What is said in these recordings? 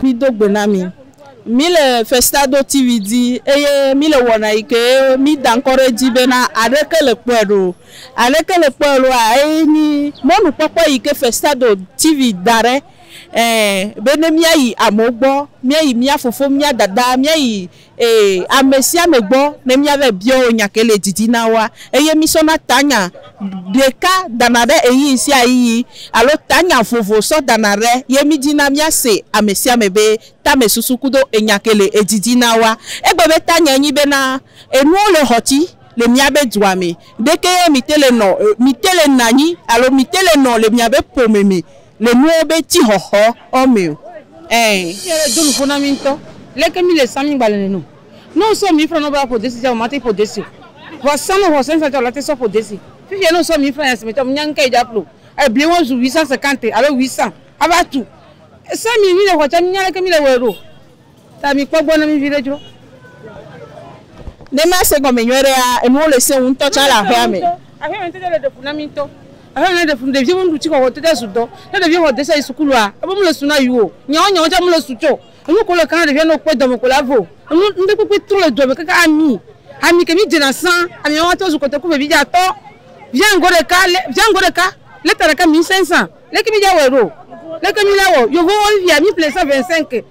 Mido gbe na mí. Mí le Festado TV dzi eye mí le wɔna yi ke mí da ŋkɔ ɖe edzi bena Aɖeke le kpɔe ɖo o. Aɖeke le kpɔe ɖo a? Eye nyi mɔnukpɔkpɔ yi ke Festado TV da ɖe, ɛɛ, be ne míayi amewo gbɔ, míayi mía fofo, mía dada, míayi Ee, amesiame gbɔ ne míavae bia wo nya ke le didi na woa, eye mísɔna tanya ɖeka dana ɖe ɣeyiɣi sia ɣeyiɣi alo tanya vovo sɔ dana ɖe, ye mídina míase amesiame be tamesusu kudo enya ke le edidi na woa. Egbe be tanyae nyi bena, Enuwo le xɔti le miabe dua me, ɖekee mite le nɔ, mite le nanyi alo mite le nɔ le miabe ƒome me. Le nuwo be ti xɔxɔ ɔ mɛ o. Ɛɛ. Eyi ɖe do nupo na mi ŋtɔ. Leke mi le sa mi ŋgba le nɛnɛ o. Ne wo sɔ mi ifra nɔ be a ƒo desi tsa, wo ma te ƒo desi o. Vɔ sa nɔ xɔse ŋsa tsa wo la te sɔ ƒo desi. Fifia ne wo sɔ mi ifra nyasime tsa, mi nya ŋke yi dza ƒlo. Ebli wo zu huit cent cinquante alo huit cent a va tu. Sa mi yi mi le xɔ tsa, mi nya leke mi le wɔɛ ɖo. Ta mi kpɔ gbɔ na mi viɖe dzro. Ne mia se gɔme nyuiɖe ya enuwo le sẽwu ŋtɔ tsa le aƒea me. Aƒea me ŋtete le ɖe fu na mi ŋtɔ. Aƒea me le ɖe fu ɖeviwo be nu ɖu tsi xɔxɔ ŋtete su dɔ. Ne ɖeviwo xɔ desa yi sukulua ebe mele su na yio. Nyawo nyawo tsa mele su tsɔ. Enu ko le ka na ɖevia ne okpɔe dɔme ko la ve o. Enu ŋɖekpekpe tro le dua me kaka ami. Ami ke mi dzena sã ami ma ŋtɔ zu kotoku vevi dza tɔ. Via ŋgɔ ɖeka le via ŋgɔ ɖeka leta ɖeka mi ŋsẽ sã. Leke mi dza wɔe ɖo? Leke mi la wɔ? Yovowo fia mi ƒle sã vɛnsinke.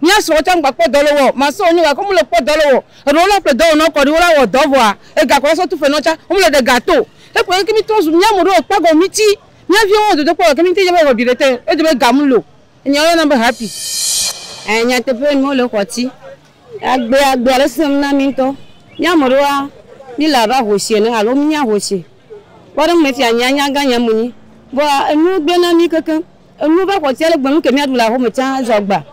Mía srɔ̃wo tsã ŋgba kpɔ dɔ loo ɔ, masɔ wonyo gake womele kpɔ dɔ loo ɔ. Eɖewo la ƒle dɔwɔnɔ kɔɖi wola wɔ dɔ vɔa ega kɔla sɔ tu ƒenɔ tsã womele ɖe ga to. Ekplɔ keke mi trɔ zu mía mo ɖe o kpagɔ mi tsi mía viwo wɔ dodokpɔ gake mi ŋti dze be ewɔ viɖe te edze be ga mu lo enyawo yɔna be happy. Ɛɛ nyateƒee mi wole xɔ tsi agbe agbea le sesem na mi ŋtɔ. Mía mo ɖewoa mi le abe ahoshi ene alo mi nye ahoshi kpɔ ɖe ŋme fia nyea nya gã nyea mo nyi vɔa enuwo gble na mi kekeŋ Enu va xɔ tsia le gbɔnu ke míaɖu le axo me tsã zɔ agba.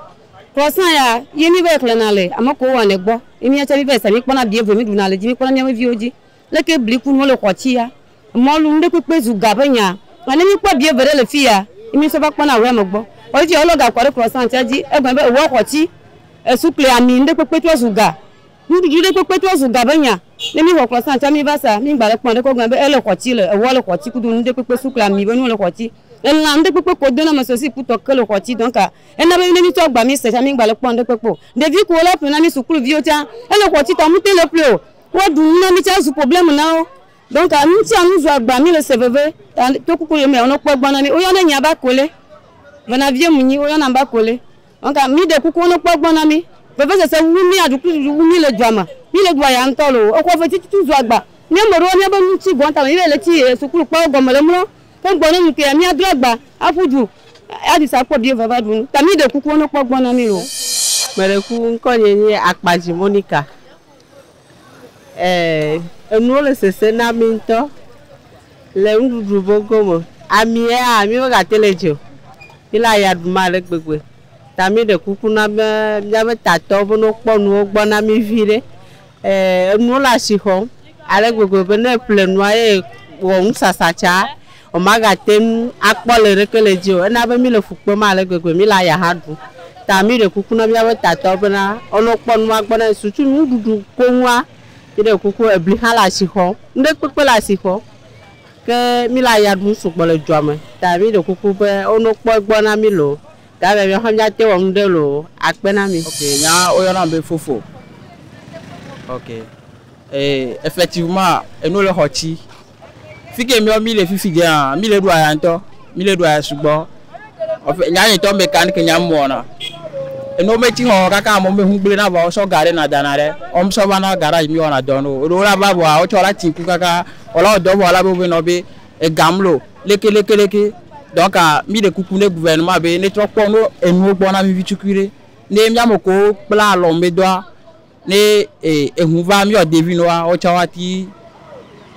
Krɔsa ya ye mí va yi xlẽna le ame kewo wɔnɛ gbɔ. Ye mía tsɛ mí va yi sa mí kpɔna abi eve mí ɖuna le edzi mí kpɔna mía ƒe viwo dzi. Leke bli ku nuwo le xɔ tsi ya mɔlu nu ɖe kpekpe zu ga ƒe nya. Vɔ ne mí kpɔ abi eve ɖe le fiya ye mí sɔ va kpɔna ahuea me gbɔ. Vɔ fifia wo lɔ ga kɔ ɖe krɔsa tsia dzi egɔme be ewɔ xɔ tsi, esu kple ami nu ɖe kpekpe trɔ zu ga. Nuɖuɖu ɖe kpekpe trɔ zu ga be nya. Ne mi xɔklɔ sã tsã mi va sa, mi ŋgba le kpɔn ɖekɔ gɔme be ele xɔti le, eʋua le xɔti kudo nuɖe kpekpe sukle ami be nuwo le xɔti. Elã nuɖe kpekpe ko dona me so si kutɔ ke le xɔti donc ena be ne mi tsɔ agba mi se tsã mi ŋgba le kpɔn ɖe kpekpe o. Ɖevi kuwo la ple na mi suklu viwo tsã ele xɔti ta mu te le ple o. Wa ɖu nu na mi tsã zu problème na wo. Donc nu sia nu zu agba mi le se veve ta to kuku yomea wo no kpɔe gbɔ na mi. Wo yɔnɛ nya be akole. Vena vie mu nyi wo yɔnam be akole. Ŋka mi ɖe kuku wonɔ kpɔ gbɔ na mi. Vevesese wu mi aɖukuɖuɖu wu mi le dua me. Mi le dua ya ŋtɔ lo. Exɔ ve titutu zu agba. Mi ame ɖewo mia be nu tsi gɔn tame mi va yi le tsi e sukulu kpawo gɔme le mlɔ. Ke ŋgbɔ ne ŋukea mia dro agba a ƒu du a ɖi sa kpɔ biye va va ɖu nu. Ŋka mi ɖe kuku wonɔ kpɔ gbɔ na mi lo. Meɖe kuku ŋkɔ nye nye Akpadzi Monika. Ɛɛ, enuwo le sese na mí ŋutɔ le nuɖuɖu vogo me. Amiɛa, mí me gate le dze o. Mí le aya ɖum ale gbegbe. Ta mí ɖe kuku na be míabe tatɔwo be ne wokpɔ nuwo gbɔ na mí viɖe. Ɛɛ, enuwo le asixɔm ale gbegbe be ne eƒle nua ye wɔ nusasa tsaa, Womagate ŋu akpɔ le ɖeke le edzi o. Ena be mí le fu kpem ale gbegbe, mí le aya hã ɖum. Ta mí ɖe kuku na míaƒe tatɔwo bena wonɔ kpɔ nua gbɔ na Yesu tso nuɖuɖu koŋua. Mí ɖe kuku ebli hã le asi xɔm. Nuɖe kpekpe le asi xɔm. Ke mí le aya ɖum sugbɔ le dua me. Ta mí ɖe kuku be wonɔ kpɔ egbɔ na mí loo. Gake míawo hã míate ŋu awɔ nuɖe loo akpe na mí. Ok, nya woyɔnam be fofo. Ok, e effectivement, enu le xɔ tsi Fike miɔ mi le fifi dze hã, mi le ɖu aya ŋutɔ, mi le ɖu aya sugbɔ. Ɔfɛ nya nye tɔ me kan ke nya mɔ na. Eno me ti hɔ kaka mo me hungble na va sɔ gare na dana re. Om sɔ va na garage mi wana dɔ no. Ro la ba bo a o cho la tin ku kaka. Ola o dɔ bo la bo be no be e gamlo leke leke leke. Donc mi de kuku ne gouvernement be ne trɔ kpɔ no enu gbɔ na mi vi tukui re. Ne mi amo ko kpla lɔ me doa. Ne eh, ehun va míawo ɖevi nɔ wa, wotsã woati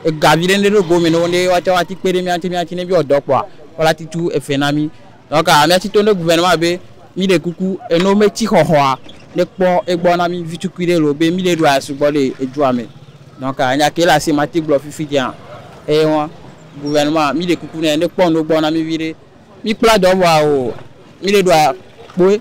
ega viɖe ne ɖo gome nɔ ne woatsã woati kpe ɖe mía ŋuti míati ne míawɔ dɔ kpɔa, wola ti tu efe na mí. Donc míati to ne gouvernement be mí ɖe kuku eno me tsi xɔxɔa ne kpɔ egbɔ na mí vi tukui ɖe loo be mí ɖe ɖua sugbɔ le edua me. Donc nya ke le asi mati gblɔ fifi dzea eye wan. Gouvernement mí ɖe kuku nɛ ne kpɔ enu gbɔ na mí viɖe. Mí kpla dɔ vɔa o mí ɖe ɖua kpoe.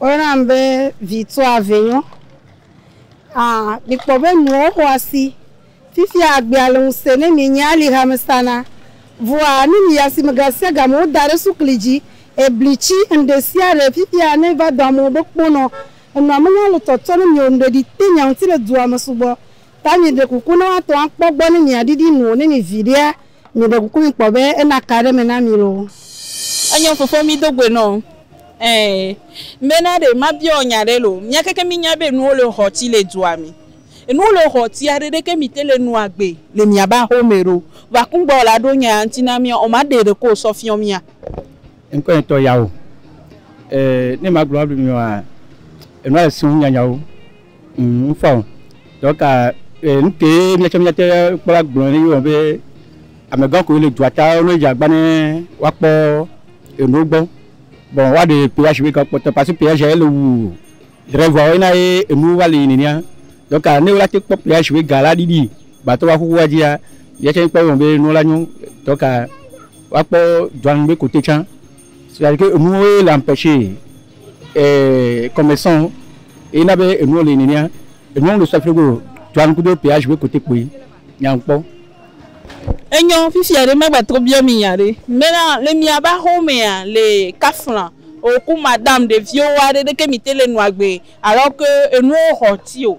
Woyɔnam be Vituavenyo. Ã, mikpɔ be nuwo xɔ asi. Fifia agbea le ŋusẽ ne mi nye alixame sana. Vɔa, ne miyi asime gasiagame, woda ɖe sukli dzi, ebli tsi, nuɖesiaɖe. Fifia, ne miva do amewo be kponɔ, enɔa menya le tɔtɔ ne mi o, nuɖeɖi te nya ŋuti le dua me sugbɔ. Ta mieɖe kuku ne woatɔ akpɔ gbɔ ne miaɖiɖi nu o, ne mi viɖea, mieɖe kuku mikpɔ be ena ka ɖe me na mi loo. Enyo fofo mi do goe nɔo ɛɛ. Bena ɖe mabiaɔ nya ɖe loo. Mia keke mi nya be enuwo le xɔti le dua mi. Enuwo le xɔtia ɖe ɖeke mi te le nua gbe le mia ba xo me ɖo. Vɔa kungba o la ɖo nya ya ŋti na mia o ma ɖe ɖeke o sɔ fiɔ mia. Ŋkɔe ŋtɔ yao. Ɛɛ ne ma gblɔ abe mi ɔa, enua le siɔ ŋu nyanyawo Ŋ, ŋfɔ o. Dɔka e, nukee míatsɔ míate kpɔ agblɔ ne míewɔ be amegã koe le dua ta ne wodze agba ne woakpɔ enuwo gbɔ. Bon woaɖe kpe ashi be kpɔtɔ parce que kpea zia ele wu driver wo na ye enuwo va li nenea. Dɔka ne wola te kpɔ kpea ashi be ga la ɖiɖi gbatɔ va xoxoa dzia, yetsɛ kpɔ be enu la nyo. Dɔka woakpɔ dua nu be kote tsã. C'est-à-dire que enuwo ye le empêcher eh, convention ye na be enuwo le nenea. Enuwo mele sɔsrɔ̃ go o. Tuanu kudo péage be côté kpoe nyankpɔ. Enyɔ, fifia ɖe magba trɔ biɔ mi nya ɖe. Mena, le miabe axewo mea, le kafla eo ku madame ɖeviwo woa ɖe ɖeke mi te le nua gbe alors que enuwo xɔ ti o.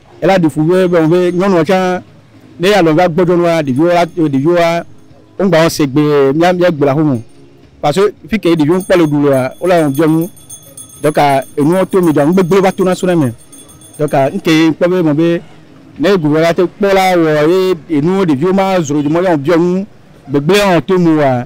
Ela ɖi fu be be be nyɔnua tsã ne ya lɔn va gbɔdzɔ nua ɖeviwo la ɖeviwoa wongba wɔn segbe mia mia gbe la ho mo. Paso fi ke ɖeviwo kpɔ le ɖu loa wola wɔn biɔ nu. Dɔka enuwo to mi dɔa nu gbegble va to na so na me. Dɔka nke kpɔ be mɔ be ne gu va te kpɔ la wɔ ye enuwo ɖeviwo ma zro dzi mɔ ya wɔn biɔ nu gbegble wɔn to mi wa.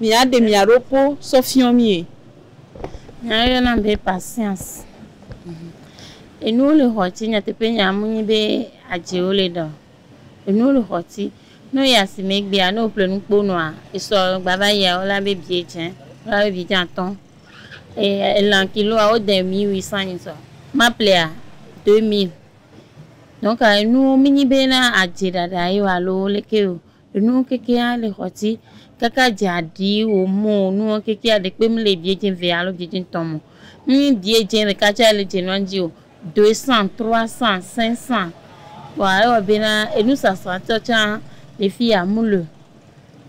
Mìaɖe mia ɖo kpo sɔ fiɔ mie. Nya yɔ nam be patience. Enuwo le xɔ ci nyateƒe nya mu nyi be adze wo le ɖa o. Enuwo le xɔ ci ne wo yi asime egbea ne wo ƒle nu kpo nɔa esɔ gba va yia wo la be biɛ dze wo la be biɛ dze atɔ. Eye elan kiloa wo de mille huit cent ni sɔ ma ƒlea deux mille. Donc enuwo mi nyi be na adze ɖaɖa yio alo leke yio Enuwo kekeɛ a le xɔti kake a dze aɖi wo mo o, nuwo kekeɛ a ɖekpe mi le ebiɛ dze ve alo dze dze ŋtɔn mo. Ŋnyi biɛ dze ɖeka tsɛ a le dze nuan dzi o, doe sãn, trɔa sãn, sɛn sãn. Kpɔa ewɔ be na enu sasra tsɔ tsã le fi ya mu le o.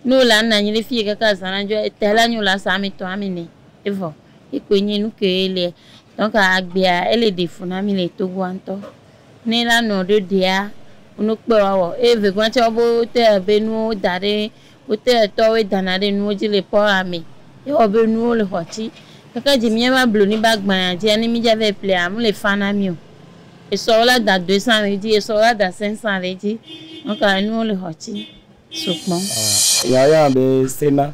Ne wo le ana anyi ɖe fiɛ kake azã na dzɔ, etɛ la nyi wo la sa ame tɔ ame ne evɔ. Ekpoe nyi enu ke ye liɛ. Donc agbea ele ɖe fu na mi le Togoa ŋtɔ. Ne la nɔ ɖo ɖea, wonɔ kpe wa wɔ. Eye vegɔa tsɛ wobe wote be nuwo da ɖe wote etɔ woe dana ɖe nuwo dzi le pɔ wa me. Ye wɔ be nuwo le xɔ tsi. Keke dzi mía va blu ni ba gbaya dzi ani mi dza vɛ plea amu le fa na mi o. Esɔ wo la da doe san le edzi, esɔ wo la da sɛn san le edzi. Nɔka nuwo le xɔ tsi so kpɔn. Aa, ya ya be sena.